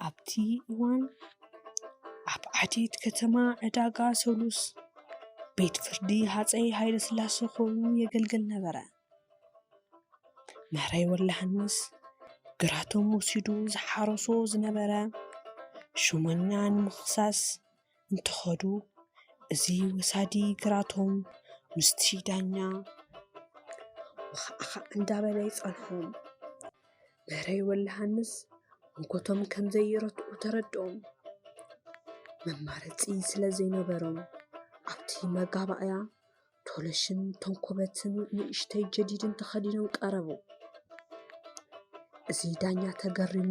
ኣብቲ እዋን ኣብ ዓዴት ከተማ ዕዳጋ ሰሉስ ቤት ፍርዲ ሃፀይ ሃይለስላሴ ኮይኑ የገልግል ነበረ። ማሕረይ ወላሃንስ ግራቶም ወሲዱ ዝሓረሶ ዝነበረ ሹመኛ ንምኽሳስ እንትኸዱ እዚ ወሳዲ ግራቶም ምስቲ ዳኛ ኣኻኣኻ እንዳበለ ይፀልሖም። ማሕረይ ወላሃንስ ሞጎቶም ከምዘይረትዑ ተረድኦም መማረፂ ስለዘይነበሮም ኣብቲ መጋባእያ ቶለሽን ተንኮበትን ንእሽተይ ጀዲድን ተኸዲኖም ቀረቡ። እዚ ዳኛ ተገሪሙ፣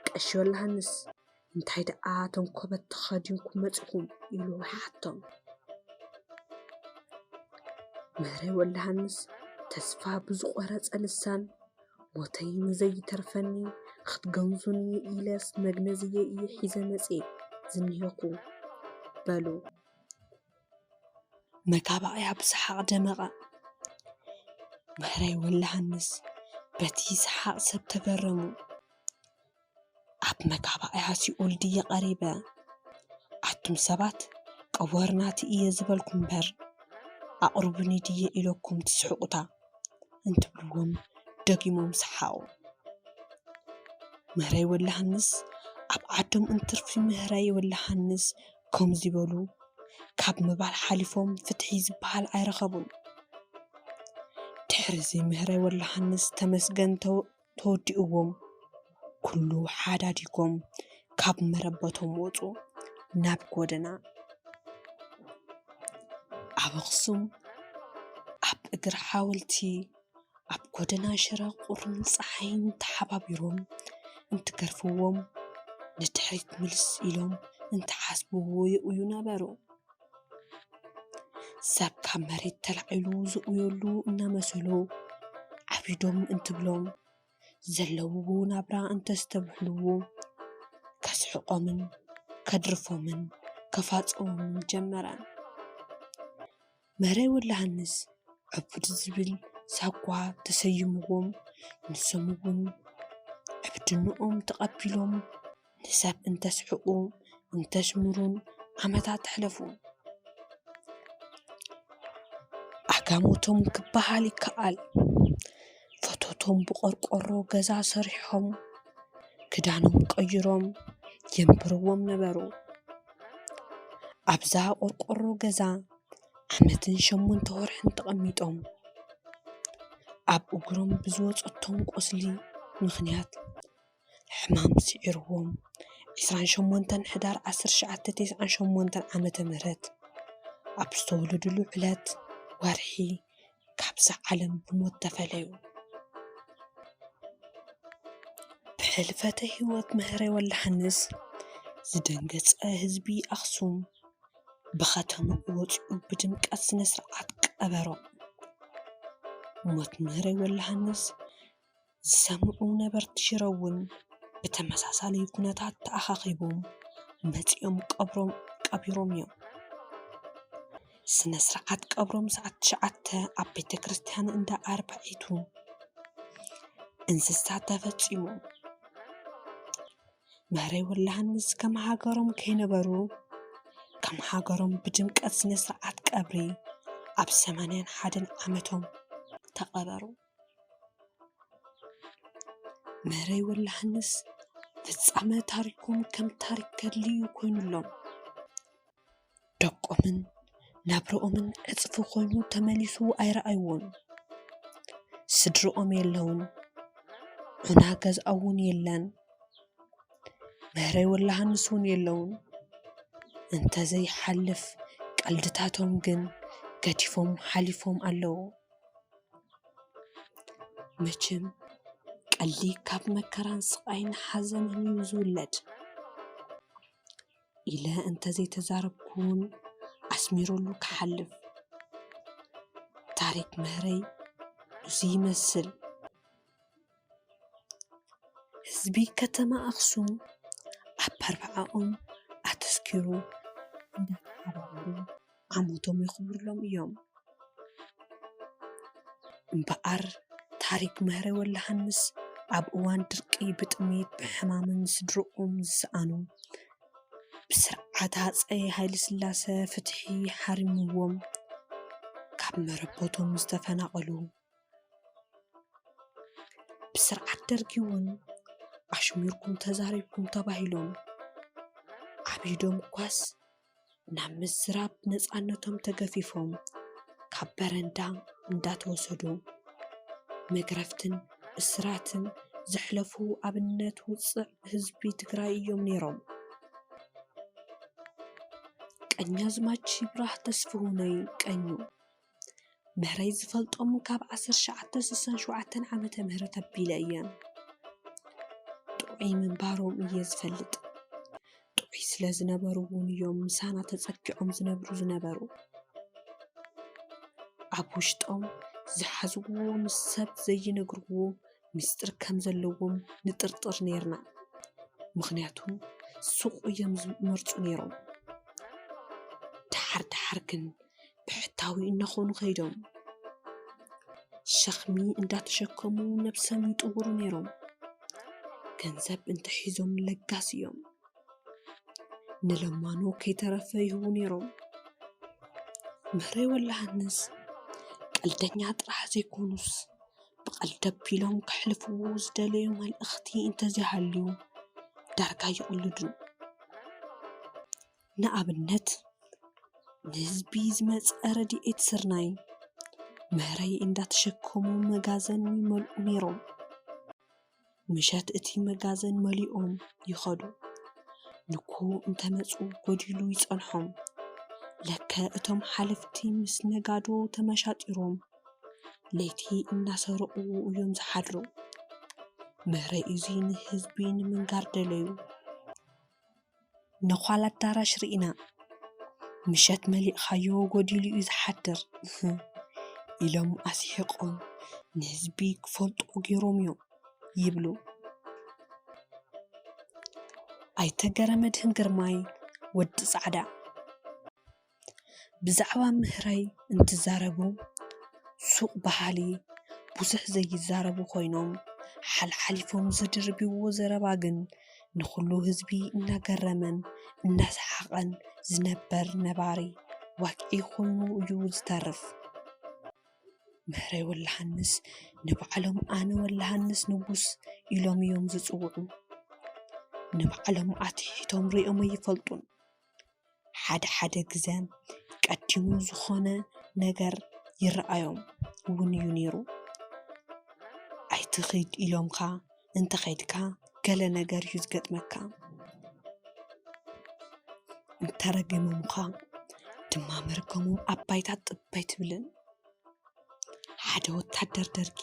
ቀሺ ዮሃንስ፣ እንታይ ደኣ ተንኮበት ተኸዲንኩም መጺኹም? ኢሉ ሓቶም። ምህረይ ወልደሃንስ ተስፋ ብዝቖረጸ ልሳን ሞተይ ንዘይተርፈኒ ክትገንዙኒ ኢለስ መግነዝየ እየ ሒዘ መጽየ ዝኒሀኹ በሉ። መታባብያ ብሰሓቕ ደመቐ። ማህራይ ወልደሃንስ በቲ ሰሓቕ ሰብ ተገረሙ። ኣብ መጋባእያ ሲኦል ድየ ቀሪበ? ኣቱም ሰባት ቀወርናቲ እየ ዝበልኩም'ምበር ኣቕርቡኒ ድየ ኢለኩም ትስሕቑታ? እንትብልዎም ደጊሞም ሰሓቑ። ማህራይ ወልደሃንስ ኣብ ዓዶም እንትርፊ ማህራይ ወልደሃንስ ከምዚ በሉ ካብ ምባል ሓሊፎም ፍትሒ ዝበሃል ኣይረኸቡን። ድሕርዚ ምህረይ ወልደሃንስ ተመስገን ተወዲኡዎም ኩሉ ሓዳዲጎም ካብ መረበቶም ወጹ ናብ ጎደና። ኣብ ኣኽሱም ኣብ እግሪ ሓወልቲ። ኣብ ጎደና ሽረ ቁርን ጸሓይን ተሓባቢሮም እንትገርፍዎም ንድሕሪት ምልስ ኢሎም እንትሓስብዎ ይቕዩ ነበሩ። ሰብ ካብ መሬት ተላዒሉ ዝቕየሉ እናመሰሎ ዓቢዶም እንትብሎም ዘለውዎ ናብራ እንተስተብህልዎ ከስሕቖምን ከድርፎምን ከፋጽዎምን ጀመረ። መረይ ወልደሃንስ ዕቡድ ዝብል ሳጓ ተሰይምዎም ንሶም ውን ዕብድነኦም ተቐቢሎም ንሰብ እንተስሕቑ እንተስምሩን ዓመታት ኣሕለፉ። ዓጋመቶም ክበሃል ይከኣል ፈተቶም ብቖርቆሮ ገዛ ሰሪሖም ክዳኖም ቀይሮም የንብርዎም ነበሩ። ኣብዛ ቆርቆሮ ገዛ ዓመትን ሸሞንተ ወርሕን ተቐሚጦም ኣብ እግሮም ብዝወፀቶም ቁስሊ ምኽንያት ሕማም ስዒርዎም ዕስራን ሸሞንተን ሕዳር ዓሰርተ ትሽዓተ ተስዓን ሸሞንተን ዓመተ ምህረት ኣብ ዝተወለድሉ ዕለት ወርሒ ካብዛ ዓለም ብሞት ተፈለዩ። ብሕልፈተ ህይወት ምህሬ ወልደሃንስ ዝደንገፀ ህዝቢ ኣኽሱም ብኸተምኡ ወፂኡ ብድምቀት ስነ ስርዓት ቀበሮ። ሞት ምህሬ ወልደሃንስ ዝሰምዑ ነበርቲ ሽረ እውን ብተመሳሳሊ ኩነታት ተኣኻኺቦም መፂኦም ቀብሮም ቀቢሮም እዮም። ስነ ስርዓት ቀብሮም ሰዓት ትሽዓተ ኣብ ቤተ ክርስቲያን እንዳ ኣርባዒቱ እንስሳ ተፈፂሙ። መህረይ ወላሃንስ ከም ሃገሮም ከይነበሩ ከም ሃገሮም ብድምቀት ስነ ስርዓት ቀብሪ ኣብ ሰማንያን ሓደን ዓመቶም ተቐበሩ። መረይ ወላ'ሃንስ ፍጻመ ታሪኮም ከም ታሪክ ገድሊ እዩ ኮይኑሎም ደቆምን ናብርኦምን ዕጽፊ ኮይኑ ተመሊሱ ኣይረኣይዎን ስድርኦም የለውን ዑና ገዝኣ'ውን የለን መረይ ወላ'ሃንስ'ውን የለውን እንተዘይ ሓልፍ ቀልድታቶም ግን ገዲፎም ሓሊፎም ኣለዉ። መቸም ቀልዲ ካብ መከራን ስቓይን ሓዘንን እዩ ዝውለድ ኢለ እንተዘይተዛረብኩ እውን ኣስሚሩሉ ክሓልፍ ታሪክ መሃረይ እዙይ ይመስል። ህዝቢ ከተማ ኣክሱም ኣብ ኣርብዓኦም ኣተኲሩ እንዳተዓራረቡ ዓመቶም የኽብሩሎም እዮም። እምበኣር ታሪኽ መህረ ወልደሃንስ ኣብ እዋን ድርቂ ብጥምየትን ብሕማምን ስድርኦም ዝሰኣኑ ብስርዓት ሃፀይ ሃይለስላሰ ፍትሒ ሓሪምዎም ካብ መረበቶም ዝተፈናቐሉ፣ ብስርዓት ደርጊ እውን ኣሽሚርኩም ተዛሪብኩም ተባሂሎም ኣብ ኢዶም ኳስ ናብ ምዝራብ ነፃነቶም ተገፊፎም ካብ በረንዳ እንዳተወሰዱ መግረፍትን እስራትን ዘሕለፉ ኣብነት ውፅዕ ህዝቢ ትግራይ እዮም ነይሮም። ቀኛዝማች ይብራህ ተስፍሁነይ ቀኙ መህረይ ዝፈልጦም ካብ ዓሰርተ ትሽዓተ ስሳን ሸውዓተን ዓመተ ምህረት ኣቢለ እየ ጥዑይ ምንባሮም እየ ዝፈልጥ ጥዑይ ስለ ዝነበሩ እውን እዮም ምሳና ተፀጊዖም ዝነብሩ ዝነበሩ ኣብ ውሽጦም ዝሓዝዎ ምስ ሰብ ዘይነግርዎ ምስጢር ከም ዘለዎም ንጥርጥር ነይርና ምኽንያቱ ሱቕ እዮም ዝመርፁ ነይሮም ደሓር ደሓር ግን ብሕታዊ እናኾኑ ከይዶም ሸኽሚ እንዳተሸከሙ ነብሶም ይጥውሩ ነይሮም። ገንዘብ እንተሒዞም ለጋስ እዮም። ንለማኑ ከይተረፈ ይህቡ ነይሮም። ምህረይ ወላሃንስ ቀልደኛ ጥራሕ ዘይኮኑስ ብቐልዲ ኣቢሎም ከሕልፍዎ ዝደለዩ መልእኽቲ እንተዘይሃልዩ ዳርጋ ይቕልዱ። ንኣብነት ንህዝቢ ዝመፀ ረድኤት ስርናይ፣ መህረይ እንዳተሸከሙ መጋዘን ይመልኡ ነይሮም። ምሸት እቲ መጋዘን መሊኦም ይኸዱ። ንግሆ እንተመፁ ጎዲሉ ይፀንሖም። ለከ እቶም ሓለፍቲ ምስ ነጋዶ ተመሻጢሮም ለይቲ እናሰረቑ እዮም ዝሓድሩ። መህረይ እዙይ ንህዝቢ ንምንጋር ደለዩ። ነዃል ኣዳራሽ ርኢና ምሸት መሊእኻዮ ጎዲሉ እዩ ዝሓድር ኢሎም ኣስሒቖም ንህዝቢ ክፈልጦ ገይሮም እዮም ይብሉ ኣይተ ገረመድህን ግርማይ፣ ወዲ ፃዕዳ። ብዛዕባ ምህራይ እንትዛረቡ ሱቅ በሃሊ ብዙሕ ዘይዛረቡ ኮይኖም ሓልሓሊፎም ዝድርብይዎ ዘረባ ግን ንኩሉ ህዝቢ እናገረመን እናሰሓቀን ዝነበር ነባሪ ዋግዒ ኮይኑ እዩ ዝተርፍ። ምህረይ ወላሃንስ ንባዕሎም ኣነ ወላሃንስ ንጉስ ኢሎም እዮም ዝፅውዑ። ንባዕሎም ኣትሒቶም ሪኦም ኣይፈልጡን። ሓድሓደ ግዘ ቀዲሙ ዝኾነ ነገር ይረኣዮም እውን እዩ ነይሩ። ኣይትኺድ ኢሎምኻ እንተኸይድካ ገለ ነገር እዩ ዝገጥመካ። እንተረጊሞምኻ ድማ መርገሞም ኣብ ባይታ ጥብ ኣይትብልን። ሓደ ወታደር ደርጊ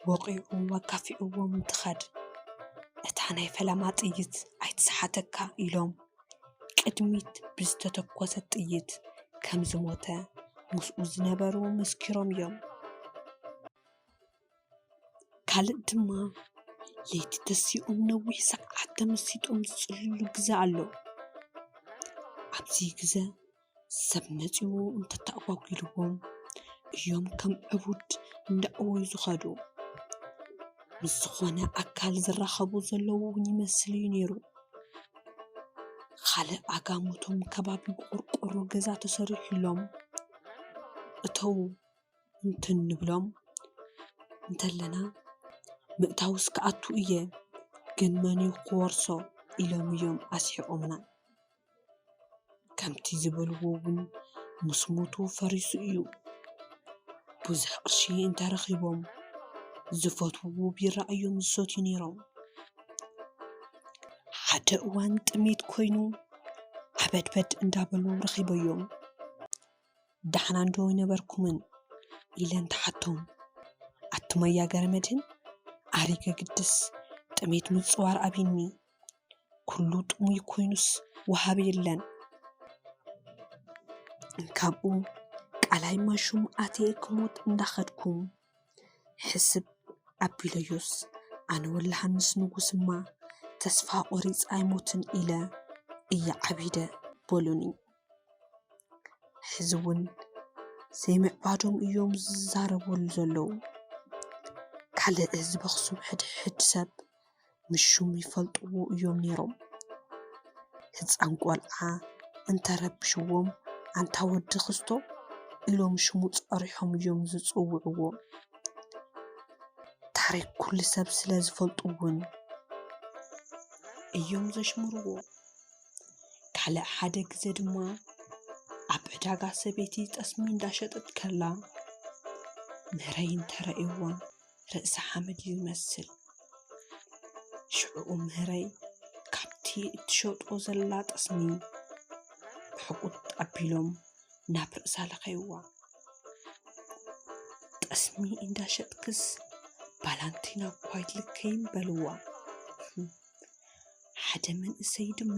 ወቒዑ ኣጋፊዕዎም እንትኸድ እታ ናይ ፈለማ ጥይት ኣይትስሓተካ ኢሎም ቅድሚት ብዝተተኮሰት ጥይት ከም ዝሞተ ምስኡ ዝነበሩ መስኪሮም እዮም፡፡ ካልእ ድማ ለይቲ ተሲኦም ነዊሕ ሰዓት ተመሲጦም ዝፅልልሉ ግዘ ኣሎ፡፡ ኣብዚ ግዘ ሰብ መጺኡ እንተተኣጓጒልዎም እዮም ከም ዕቡድ እንዳበሉ ዝኸዱ። ምስ ዝኾነ ኣካል ዝራኸቡ ዘለዉ እውን ይመስል እዩ ነይሩ። ኻልእ ኣጋሞቶም ከባቢ ብቖርቆሮ ገዛ ተሰሪሑሎም እተዉ እንትንብሎም እንተለና ምእታውስ ክኣቱ እየ ግን መን እዩ ክወርሶ ኢሎም እዮም ኣስሒቖምና። ከምቲ ዝበልዎ እውን ምስ ሞቱ ፈሪሱ እዩ። ብዙሕ ቅርሺ እንተረኺቦም ዝፈትውዎ ቢራ እዮም ዝሰትዩ ነይሮም። ሓደ እዋን ጥሜት ኮይኑ ዓበድበድ እንዳበሉ ረኺበዮም ዳሕና ዶ ኣይነበርኩምን ኢለን ትሓቶም። ኣቱም ኣያ ገረመድህን ኣሪገ ግድስ ጥሜት ምፅዋር ኣብዩኒ። ኩሉ ጥሙይ ኮይኑስ ወሃቢ የለን። ካብኡ ቃላይ ማይሹም ኣትየ ክሞት እንዳኸድኩ ሕስብ ኣቢለዮስ፣ ኣነ ወላሂ ምስ ንጉስ'ማ ተስፋ ቆሪፀ ኣይሞትን ኢለ እየ ዓቢደ በሉኒ። ሕዚ እውን ዘይምዕባዶም እዮም ዝዛረቡ ዘለዉ። ካልእ ህዝቢ ኣኽሱም ሕድሕድ ሰብ ንሹም ይፈልጥዎ እዮም ነይሮም። ህፃን ቆልዓ እንተረብሽዎም ኣንታ ወዲ ክስቶ ኢሎም ሽሙ ፀሪሖም እዮም ዝፅውዕዎ። ታሪክ ኩሉ ሰብ ስለ ዝፈልጡ እውን እዮም ዘሽምርዎ። ካልእ ሓደ ግዘ ድማ ኣብ ዕዳጋ ሰበይቲ ጠስሚ እንዳሸጠት ከላ መረይ እንተረእዩዋ ርእሲ ሓመድ እዩ ዝመስል ሽዕኡ ምህረይ ካብቲ እትሸጦ ዘላ ጠስሚ ብሕቊጥ ኣቢሎም ናብ ርእሳ ለኸይዋ ጠስሚ እንዳሸጥክስ ባላንቲና እኳ ኣይትልከይን በልዋ። ሓደ መንእሰይ ድማ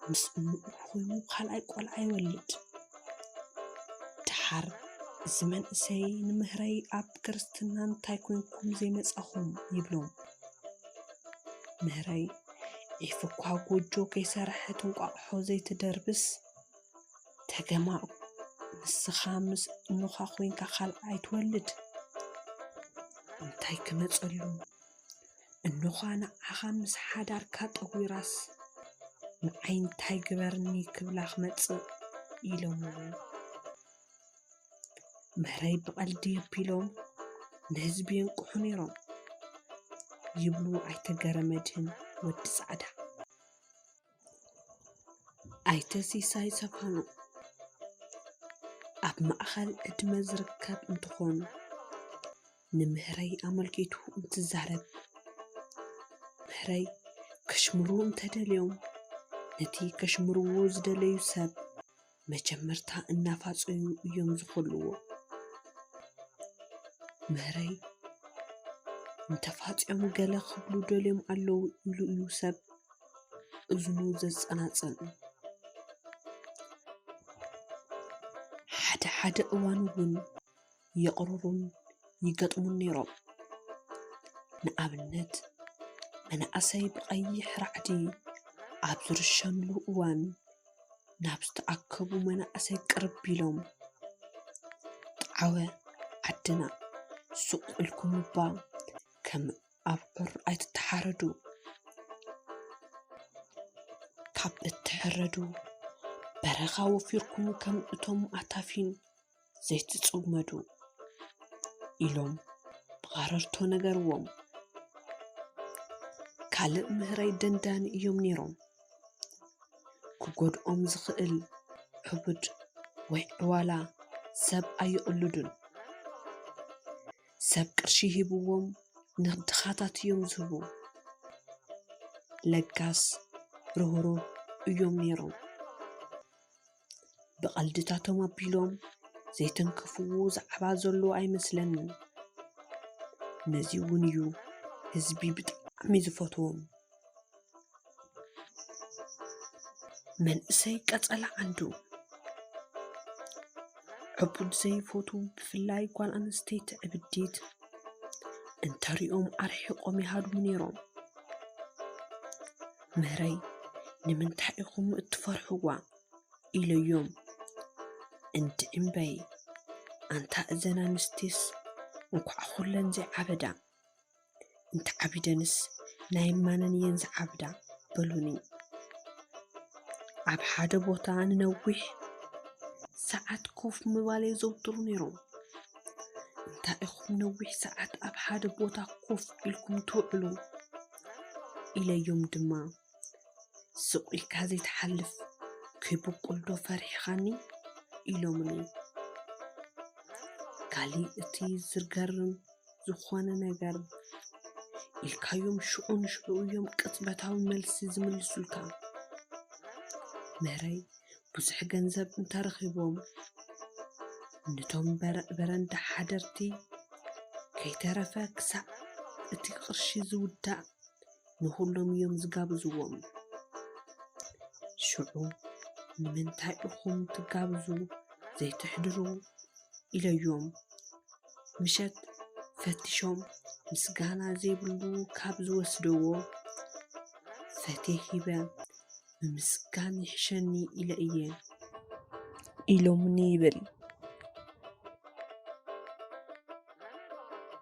ምስ እንኡ ኾይኑ ኻልኣይ ቆልዓ ይወልድ። ደሓር እዚ መንእሰይ ንምህረይ ኣብ ክርስትና እንታይ ኮይንኩም ዘይመፃኹም ይብሎም። ምህረይ ዒፍ እኳ ጎጆ ከይሰረሐት እንቋቑሖ ዘይትድርብስ ተገማዑ ንስኻ ምስ እንኻ ኮይንካ ኻልኣይ ትወልድ እንታይ ክመፀሉ። እንዃ ንዓኻ ምስ ሓዳርካ ጠጒራስ ንዓይ እንታይ ግበርኒ ክብላ ክመጽእ ኢሎምዎ መረይ ብቐልዲ ኣቢሎም ንህዝቢ የንቅሑ ነይሮም ይብሉ ኣይተ ገረመድህን ወዲ ጻዕዳ። ኣይተ ሲሳይ ሰብሃኑ ኣብ ማእኸል ዕድመ ዝርከብ እንትኾን ንምህረይ ኣመልኪቱ እንትዛረብ ምህረይ ከሽምርዎ እንተደልዮም ነቲ ከሽምርዎ ዝደለዩ ሰብ መጀመርታ እናፋጸዩ እዮም ዝኹልዎ። ምህረይ እንተፋጽዮም ገለ ክብሉ ደልዮም ኣለዉ ኢሉ እዩ ሰብ እዝኑ ዘጸናጽን። ሓደ ሓደ እዋን እውን የቕርሩን ይገጥሙን ነይሮም። ንኣብነት፣ መናእሰይ ብቐይሕ ራዕዲ ኣብ ዝርሸኑሉ እዋን ናብ ዝተኣከቡ መናእሰይ ቅርብ ኢሎም ጣዕወ ዓድና ሱቕ ኢልኩም እባ ከም ኣብዑር ኣይትተሓረዱ፣ ካብ እትሕረዱ በረኻ ወፊርኩም ከም እቶም ኣታፊን ዘይትጽመዱ ኢሎም ብቐረርቶ ነገርዎም። ካልእ ምህረይ ደንዳኒ እዮም ነይሮም። ክጎድኦም ዝኽእል ሕቡድ ወይ ዕዋላ ሰብ ኣይቕልዱን። ሰብ ቅርሺ ሂብዎም ንድኻታት እዮም ዝህቡ። ለጋስ ርህሩህ እዮም ነይሮም። ብቐልድታቶም ኣቢሎም ዘይተንከፍዎ ዛዕባ ዘሎ ኣይመስለንን ነዚ እውን እዩ ህዝቢ ብጣዕሚ ዝፈትዎም መንእሰይ ቀፀላ ዓንዱ ዕቡድ ዘይፈቱ ብፍላይ ጓል ኣንስተይቲ ዕብዲት እንተሪኦም ኣርሒቖም ይሃድሙ ነይሮም ምህረይ ንምንታይ ኢኹም እትፈርሕዋ ኢለዮም እንድ እምበይ ኣንታ እዘን ኣንስቲስ እንኳዕ ኩለን ዘይዓበዳ እንተዓቢደንስ ናይ ማነን እየን ዝዓብዳ በሉኒ ኣብ ሓደ ቦታ ንነዊሕ ሰዓት ኮፍ ምባል የዘውትሩ ነይሮም እንታይ ኢኹም ነዊሕ ሰዓት ኣብ ሓደ ቦታ ኮፍ ኢልኩም ትውዕሉ ኢለዮም ድማ ስቕ ኢልካ ዘይትሓልፍ ከይብቁልዶ ፈሪሕኻኒ ኢሎምኒ። ካሊእ እቲ ዝገርም ዝኾነ ነገር ኢልካዮም ሽዑ ንሽዑ እዮም ቅጽበታዊ መልሲ ዝምልሱልካ። መረይ ብዙሕ ገንዘብ እንተረኺቦም ነቶም በረንዳ ሓደርቲ ከይተረፈ ክሳዕ እቲ ቅርሺ ዝውዳእ ንኹሎም እዮም ዝጋብዝዎም። ሽዑ ንምንታይ እኹም ትጋብዙ ዘይትሕድሩ ኢለዮም ምሸት ፈቲሾም ምስጋና ዘይብሉ ካብ ዝወስደዎ ፈቴ ሂበ ምምስጋን ይሕሸኒ ኢለ እየ ኢሎምኒ ይብል።